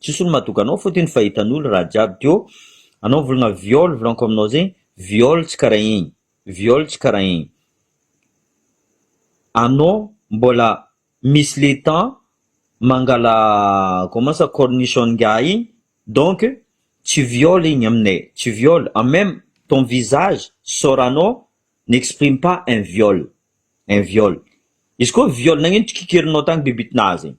Tsisy olo madoka anao fot iny fa hitanolo raha jiaby djo anao volagna viol volanko aminao zegny viol tsy kara igny viol tsy kara igny anao mbola misy le temps mangala comment ça cornichon ngiahy igny donc tsy viol igny aminay tsy viol en meme ton visage soranao n'exprime pas un viol un viol izy koa viol nagnino tsy kikerinao tagny bibitnazy igny.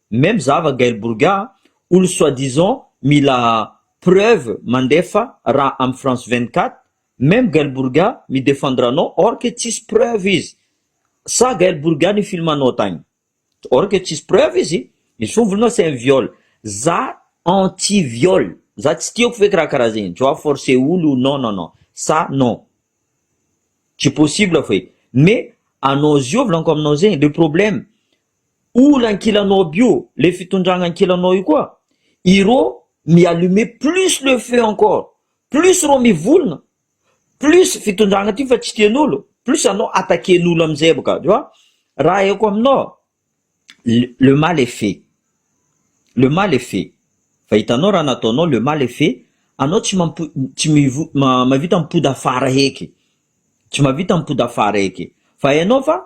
Même za va Gaël Bourga olo soit disant mila preuve mandefa raha am France 24 même Gaël Bourga mi defendre anao or que tsisy preuve izy sa Gaël Bourga ni film anao tagny or que tsisy preuve izy misy fon volonao c'est un viol za anti viol za tsy tiako feky raha karaha zegny tu vois forcer olo non non non ça non tsy possible feky mais anao ziovy lanko aminao zegny le problème Oul ankilanao aby io le fitondragna ankilanao io koa irô mi allumer plus le feu encore plus irô mivolgna plus fitondragna ty fa tsy tian'olo plus anao attaquen'olo amizay boka tu vois raha aiko aminao le mal est fait le mal est fait fa hitanao raha nataonao le mal est fait anao tsy mampi- tsy mivo- mahavita mipody afara heky tsy mahavita mipody afara heky fa enao fa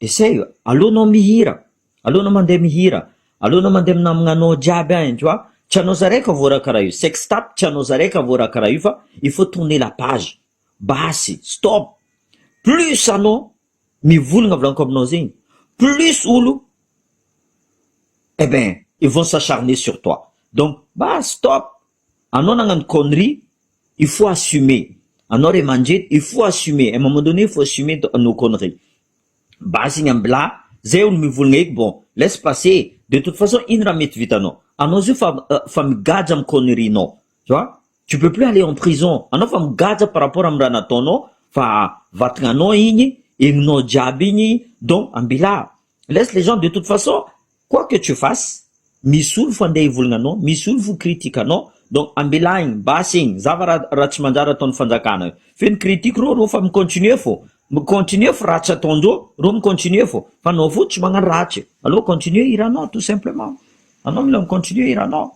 Essaye, aleo anao mihira, aleo anao mandeha mihira, aleo anao mandeha minamagna anao jiaby any tu vois, tsy anao zaray ka voaraka raha io, sex tape tsy anao zaray ka voaraka raha io fa il faut tourner la page, basy, stop, plus anao mivolagna volaniko aminao zegny plus olo eh ben ils vont s'acharner sur toi donc basy stop, Anao nagnano connerie il faut assumer anao ray aman-dreny il faut assumer un moment donné il faut assumer nos conneries base iny ambilà zay olo mivolagna eky bon laisse passer de toute façon ino raha mety vitanao anao zio fa fa migadra am connerie nao tu vois tu peux plus aller en prison anao fa migadra par rapport am raha nataonao fa vatagnanao igny egninao jiaby igny donc ambilà Laisse les gens de toute façon quoi que tu fasses misy olo fo andeha hivolagna anao, misy olo fo critique anao donc ambelahigny basy igny zava raha tsy manjary ataony fanjakana io feno critique reo reo fa mi continuer fô mi continuer fô raha tsy ataondreo reo mi continuer fô fa anao fo tsy magnano rahatry aleo continuer hiranao tout simplement anao mila mi continuer hiranao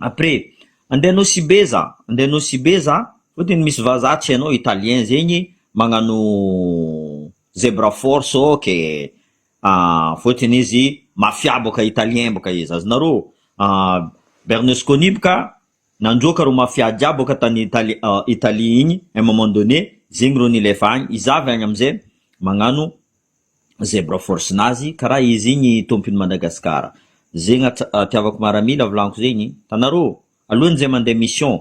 après andeha nosy be za andeha nosy be za fotony misy vaza atsy anao italien zegny magnano Zebra force ok ah fotiny izy mafia boka italien boka izy azonareo ah berlusconi boka nandroaka ro mafia jiaby boka tany italie igny un moment donne zegny ro nilefa agny iza avy agny amizay magnano zebra force nazy kara izy igny tompony madagascar zegny atiavako maramila volaniko zegny hitanareo alohany zay mande mission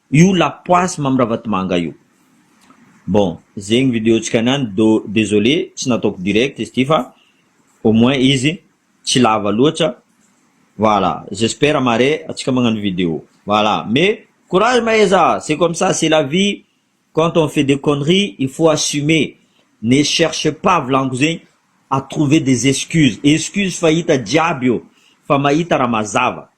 Io lapoasy Mamy Ravatomanga io. Bon, zegny video tsika niany do désolé tsy nataoko direct izy ty fa au moins izy tsy lava loatra. Voilà, j'espère mare atsika magnano video. Voilà, mais courage Maheza, c'est comme ça, c'est la vie, quand on fait des conneries il faut assumer, ne cherche pas volagniko zegny à trouver des excuses, excuse fahita jiaby io fa mahita raha mazava.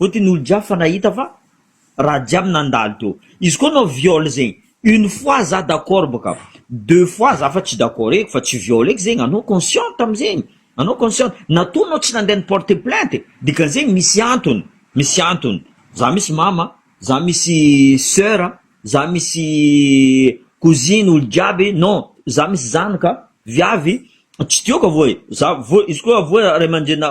Ohatry ny olo jiaby fa nahita fa raha jiaby nandalo teo izy koa no viol zegny une fois za d'accord bôka deux fois za fa tsy d'accord eky fa tsy viol eky zegny anao consciente amizegny anao consciente na toa anao tsy nandeha ni porte plainte dikan'zegny misy antony misy antony za misy mama za misy soeur za misy cousine olo jiaby non za misy zanaka viavy tsy tiako avao e za vao izy koa avao ray aman-drenina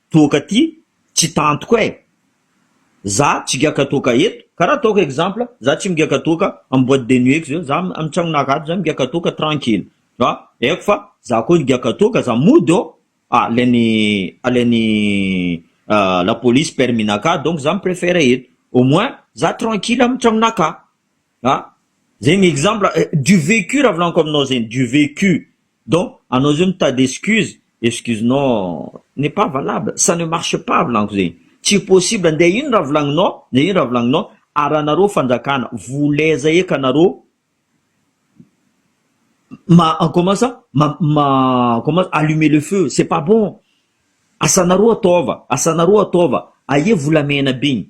Toaka ty tsy tantiko eh. Za tsy giaka toaka eto kara ataoko exemple za tsy migiaka toaka am boite de nuit-ko zao za am tragnonaka ato za migiaka toaka tranquille fa aiko fa za koa higiaka toaka za mody ô ah alain'ny alain'ny la police permis-naka donc za mi prefère eto au moins za tranquille am tragnonaka ah zegny exemple du vécu raha volagniko aminao zegny du vécu Donc anao zao mitady excuse, excuse nao n'est pas valable, ça ne marche pas volaniko zegny, tsy possible nde ino raha volagninao, nde ino raha volagninao, ary anareo fanjakana voleza eka anareo ma en comment ça ma ma comment allumer le feu c'est pas bon, asanareo ataova, asanareo ataova, aia volamena be igny,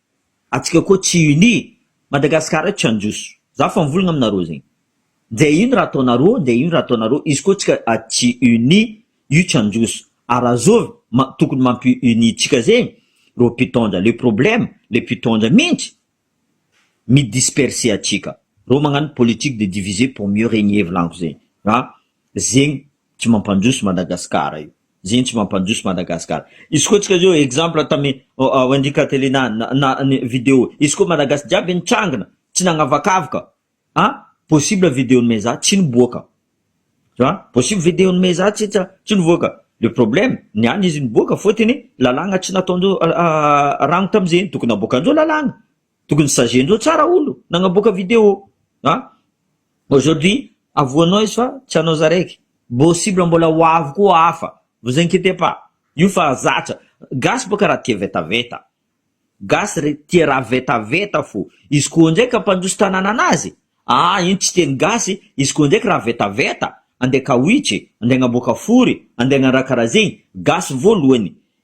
Atsika koa tsy unis. Madagascar eto tsy hanjoso. Za fa mivolagna aminareo zegny. Nde ino raha ataonareo nde ino raha ataonareo izy koa tsika tsy unis io tsy hanjoso. Ary raha zô ma tokony mampi unis tsika zegny reo mpitondra. Le problème le mpitondra mintsy mi disperser atsika. Reo magnano politique de diviser pour mieux regner volanko zegny. Fa zegny tsy mampandroso Madagascar io. Zegny tsy mampandroso Madagascar. Izy koa tsika zao exemple tamy Wendy Catelina na ny video izy koa Malagasy jiaby nitrangina tsy nagnavakavaka a possible video-n'i Meza tsy niboaka tu vois possible video-n'i Meza tsy tsy nivoaka le problème ny any izy niboaka fotony lalàgna tsy nataondreo rano tamy zegny tokony aboakandreo lalàgna tokony sager-ndreo tsara olo nagnaboaka video a. Aujourd'hui avoanao izy fa tsy anao zaraiky bossible mbola ho avy koa hafa vous inquietez pas io fa zatra gasy boka raha tia vetaveta gasy re tia raha vetaveta fo izy koa ndray ka mpandroso tanàna anazy aa iny tsy teny gasy izy koa ndraiky raha vetaveta andeha kawitry andeha agnamboaka fory andeha agnandraka raha zegny gasy voalohany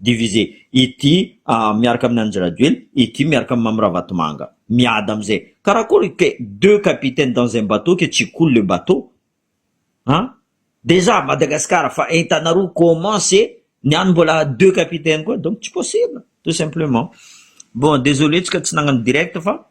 Divisé. Ity miaraka amin'ny Andry Rajoely, ity miaraka amin'ny Mamy Ravatomanga. Miady amin'izay. Karakôry que deux capitaines dans un bateau que tsy coule le bateau? An? Déjà Madagascar fa entana roa comment ce ny any mbola deux capitaines koa? Donc tsy possible tout simplement. Bon, désolé tsika tsy nagnano direct fa